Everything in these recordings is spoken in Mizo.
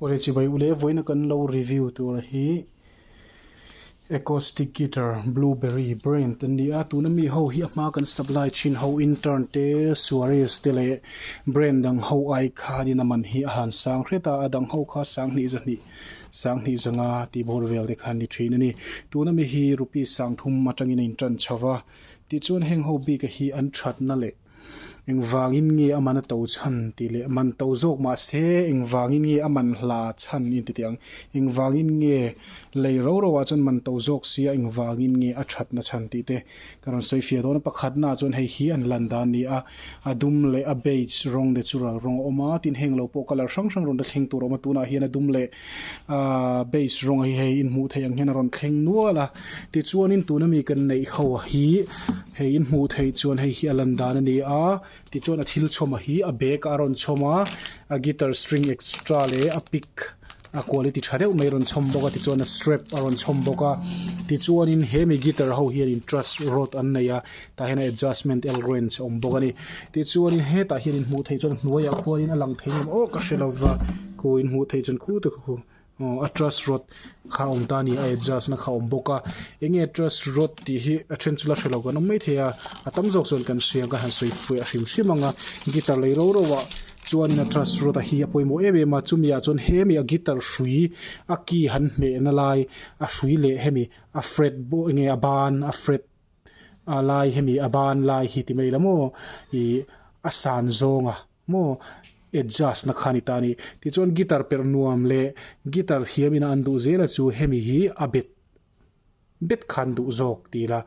Awle chibai ule vawiina kan lo review tur hi acoustic guitar blueberry brand an ni a, tuna mi ho hi a hma kan sak lai thin ho intern te suarez te leh brand dang ho ai khanin a man hi a han sang hret a, a dang ho kha sang hnih za hnih sang hnih zanga tihbawr vel te kha ni thin a ni, tuna mi hi rupees sangthum atangin a intan chho va, tichuan heng ho bik a hi an thatna leh. Engvângin nge a man a to chhan? tih leh Man to zâwk mah se, engvângin nge a man hla chhan? inti tih ang. Engvângin nge lei ro roah chuan man to zâwk sia engvângin nge a ṭhatna chhan? tih te ka rawn sawi fia dawn a. Pakhatnaah chuan hei hi an lan dan a ni a, a dum leh a beige rawng natural rawng a awm a, tin heng lo pawh colour hrang hrang rawn hla thleng tûr a awm a, tûnah hian a dum leh Aaa beige rawng hi hei in hmuh theih ang hian a rawn thleng nual a, tichuanin tuna mi kan neih ho hi hei in hmuh theih chuan hei hi a lan dan a ni a, tichuan a thil chhawm a hi a bag ah a rawn chhawm a, a guitar string extra leh a pick a quality tha deuh mai a rawn chhawm bawk a, tichuan a strap a rawn chhawm bawk a, tichuanin hemi guitar ho hianin trust rod an nei a. Tah hian adjustment elrens a awm bawk a ni tichuan in hetah hian in hmuh theih chuan hnuaiah khuan in a lang thei awm awk a hre lo va khaw in hmuh theih chuan khu te kha khaw aw a truss rod kha a awm ta a ni a adjust na kha a awm bawk a eng nge truss rod tih hi a then chu la hre lo kan awm mai thei a a tam zawk chuan kan hria ka han sawi fuih a hrim hrim ang a guitar lei ro ro ah chuan in a truss rod a hi a pawimawh em em a chumi ah chuan he mi a guitar hrui a key han hmeh na lai a hrui leh hemi a fret a ban a fret -- A lai hemi a ban lai hi ti mai la maw i a san zawng a maw adjust na khan i ta a ni. Tichuan guitar perh nuam leh guitar thiam ina an duh zel a chu hemi hi a bet bet khan duh zawk ti ila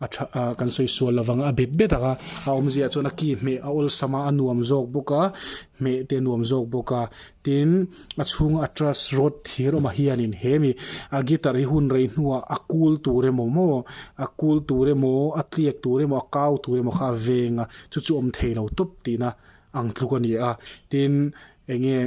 a tha a kan sawi sual lo vang a a bet bet ang a a awmzia chuan a ki hmeh a awlsam a a nuam zawk bawk a hmeh te a nuam zawk bawk a. Tin, a chhunga a trust rawt thir awmah hianin hemi a guitar hi hun rei hnuah a kul tur emaw maw, a kul tur emaw, a tliak tur emaw, a kau tur emaw kha a veng a, chu chu awm thei lo tawp tihna ang tluk a ni a. Tin, eng nge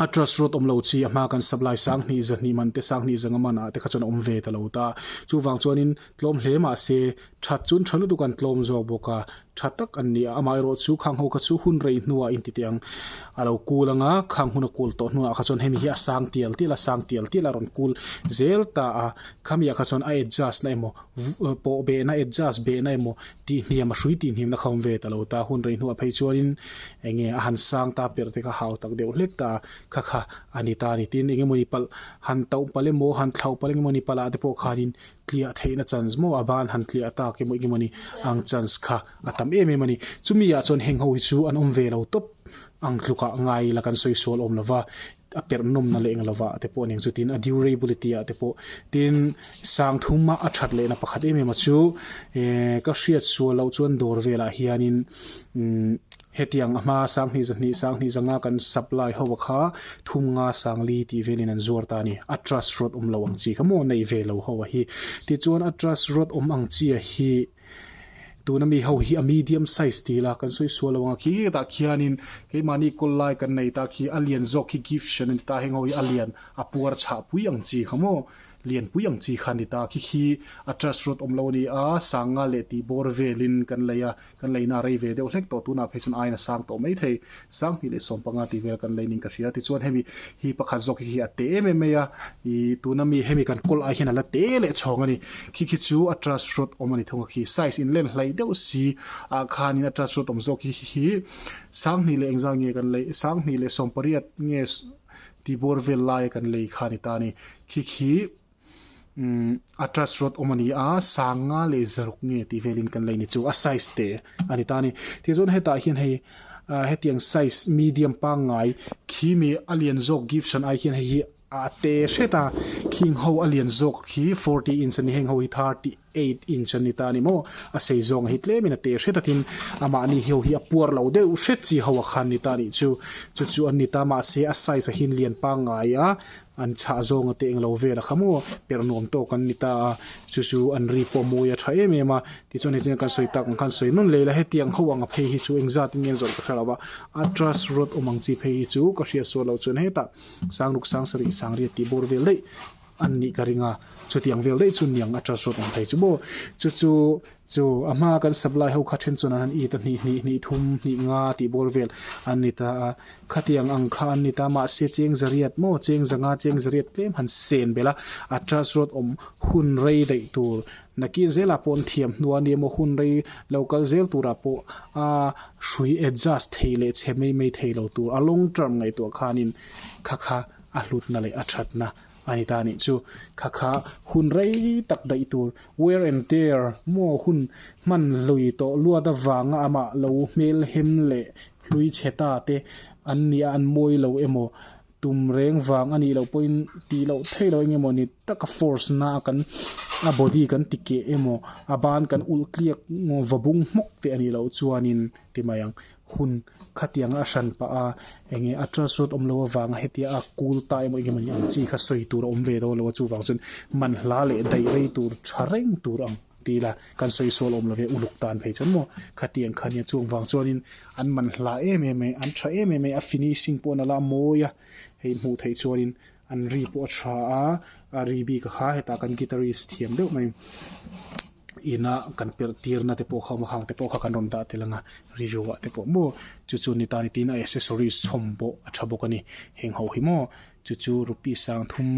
a trust rawt awm lo chi a hma kan sap lai sanghnih, zahnihmante, sanghnih zanga manah te kha chuan a awm ve ta lo ta. Chuvang chuanin tlawm hle mah se That chu tha lutuk an tlawm zawk bawk a, tha tak an ni a, amah erawh chu khang ho kha chu hun rei hnuah in titi ang a lo kul ang a, khang hun a kul tawh hnuah kha chuan hemi hi a sang tial tial a sang tial tial a rawn kul zel ta a, khami ah kha chuan a adjust na emaw pawh beh na adjust beh na emaw tihniam a hrui tihniam na kha awm ve ta lo ta, hun rei hnuah phei chuan in eng nge a han sang ta per te kha hau tak deuh hlek ta kha kha a ni ta ni tin eng emawni pal han tauh palh emaw han thlauh palh eng emawni pal ah te pawh khan in tliah theihna chance maw a ban han tliah ta ke mawih nge mawni ang chance kha a tam em em a ni chumi ah chuan heng ho hi chu an awm ve lo tawp ang tluk ah ngai la kan sawi sual awm lo va a perh nawm na leh ang lo va te pawh ning chu tin a durability ah te pawh tin sang thum a a that leh na pakhat em em a chu ehh ka hriat sual loh chuan dawr vel ah hian in umm Hetiang a hma Sanghnih zahnih Sanghnih zanga kan sap lai ho a kha thum nga Sangli tih velin an zuar ta a ni. A trust rawt awm lo ang chi kha maw nei ve lo ho a hi. Tichuan a trust rawt awm ang chi a hi tuna mi ho hi a medium size ti ila kan sawi sual lo ang a. Khi khitah khianin keimahni kawl lai kan nei ta khi a lian zawk hi gift hrem a ni ta, heng ho hi a lian a puar chhah pui ang chi kha maw lian pui ang chi kha a ni ta. Khi khi a trust rawt awm lo a ni a, Sanga leh tihbawr velin kan lei a. Kan leina a rei ve deuh hlek tawh tunah phei chuan aiin a sang tawh mai thei. Sang hnih leh sawm panga tihvel kan lei ning ka hria. Tichuan hemi hi pakhat zawk hi a teh em em mai a. Ih tuna mi hemi kan kawl ai hian a la teh leh chhawng a ni. Khi khi chu a trust rawt awm a ni thung a khi. Size in len hlai deuh si ah khanin a trust rawt awm zawk hi khi khi. Sang hnih leh engzah nge kan lei sang hnih leh sawm pariat nge tihbawr vel laia kan lei kha a ni ta a ni. Khi khi. a trust rawt awm a ni a sang nga leh zaruk nge tih velin kan lei ni chu a size te a ni ta a ni tih chuan hetah hian hei hetiang size medium pangngai khi mi a lian zawk gift chhan ai hian hei hi a te hret a khi ang ho a lian zawk khi forty inch a ni heng ho hi thirty . Eight inch a ni ta a ni maw? A sei zawngah hi tlem in a teh hre takin a mahni hio hi a puar lo deuh hret chi ho a kha an ni ta a nih chu. Chu chu an ni ta mahse a size a hi an lian pang ngai a, an chhah zawng a teh englo vel a kha maw? Perh nuam tawk an ni ta a, chu chu an ri pawh a mawi a tha em em a. Tichuan hetiang kan sawi tak ang khan sawi nun leh la hetiang ho anga phei hi chu eng zat in ngen zawrh ka hre lo va, Atlas Road awm ang chi phei hi chu ka hriat sual lo chuan hetah Sangruk Sangsarih Sangria tih bawr vel daih An nih ka ring a, chuti ang vel daih chu niang a ṭar sawt ang thei chu maw? Chu chu chu a hma a kan sak lai ho kha then chuan an han it a, hnih hnih, hnih thum, hnih nga tih bawr vel an ni ta a, khatiang ang kha an ni ta mahse cheng zariat maw, cheng za nga cheng zariat tlem han sen belh a, a ṭar sawt awm hun rei daih tur nakin zela pawh an thiam hnu a nia maw, hun rei lo kal zel turah pawh a hrui adjust thei leh chhe mai mai thei lo tur a long term ngaihtuah khanin kha kha a hlutna leh a thatna a ni ta a nih chu. Kha kha hun rei tak daih tur, wear and tear, maw hun hman hlui tawh luat avanga amah lo hmelhem leh hlui chhe ta te an nia an mawi lo emaw, tum reng vang a nih loh pawhin tih loh thei lo eng emaw ni taka force na a kan a body kan ti keh emaw, a ban kan ulh tliak vawbung hmawk teh a nih loh chuanin ti mai ang. hun khatianga a hran pah a, eng nge a trust rawt awm lo avanga hetia a kul ta emaw eng emawni ang chi kha sawi tur a awm ve dawn lo a, chuvang chuan man hla leh daih rei tur tha reng tur ang ti ila kan sawi sual awm love uluk tan phei chuan maw khatiang kha nia chuvang chuanin an man hla em em mai an tha em em mai a finishing pawh nala a mawi a hei hmuh theih chuanin An ri pawh a tha a, a ri bik a kha hetah kan guitarist thiam deuh mai ina kan perh tirna te pawh kha awm a, khang te pawh kha kan rawn dah tel ang a, ri ruah te pawh maw chu chu ni ta ni tiin a accessories chhawm pawh a tha bawk a ni, heng ho hi maw chu chu rupees sang thum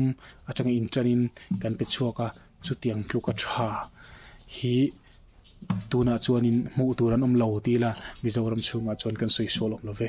atanga in tanin kan pe chhuak a, chutiang tluk a tha hi tunah chuan in hmuh tur an awm lo tila Mizoram chhungah chuan kan sawi saw lawm lo ve.